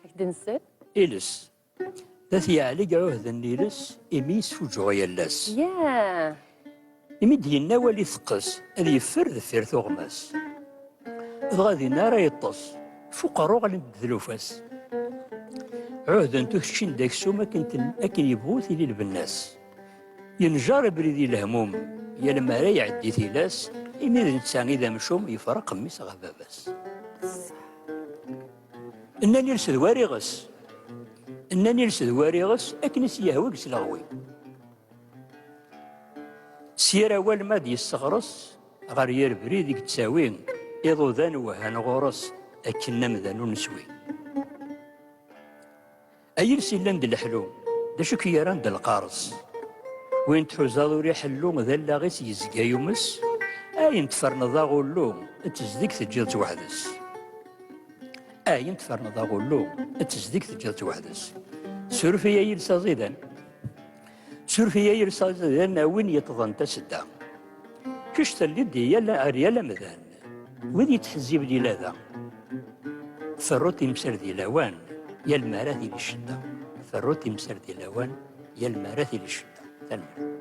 Ad k-d-nsel. Iles. D at yeɛlig ɛuhden n iles, imi yesfuǧuɣ yal ass. Yeah. Imi d-yenna wali teqqes, ad yeffer deffir tuɣmas. Dɣa dinna ara yeṭṭes, f uqerru ɣlint-d tlufa-s. Ɛuhdent ur keččin-d aksum akken yebɣu tili lbenna-s. Yenjer abrid i lehmum, yal mi ara iɛeddi tilas, imi d netta i d amcum yefreq mmi-s ɣef baba-s. Nnan iles d war iɣes. Nnan iles d war iɣes akken i s-yehwa deg sleɣwi. S yir awal ma d yesseɣres ɣer yir brid i yettawi iḍudan wehhan ɣur-s akken amdan ur neswi. Ay iles yellan d leḥlu, d acu i k-yerran d lqareṣ? Win tḥuzaḍ ur iḥellu, d allaɣ-is yezga yumes, ayen tferneḍ aɣullu, d tezdeg teǧǧiḍ-tt weḥd-s. Ayen tferneḍ aɣullu, d tezdeg teǧǧiḍ-tt weḥd-s. Suref-iyi ay iles aẓidan, suref-iyi ay iles aẓidan, a win yeṭṭḍen tasedda. Kečč telliḍ di yal, ar yal amdan. Wid yettḥezziben ilada, ferru timsal di lawan, yal mi ara tili ccedda. Ferru timsal di lawan, yal mi ara tili ccedda. Tanemmirt.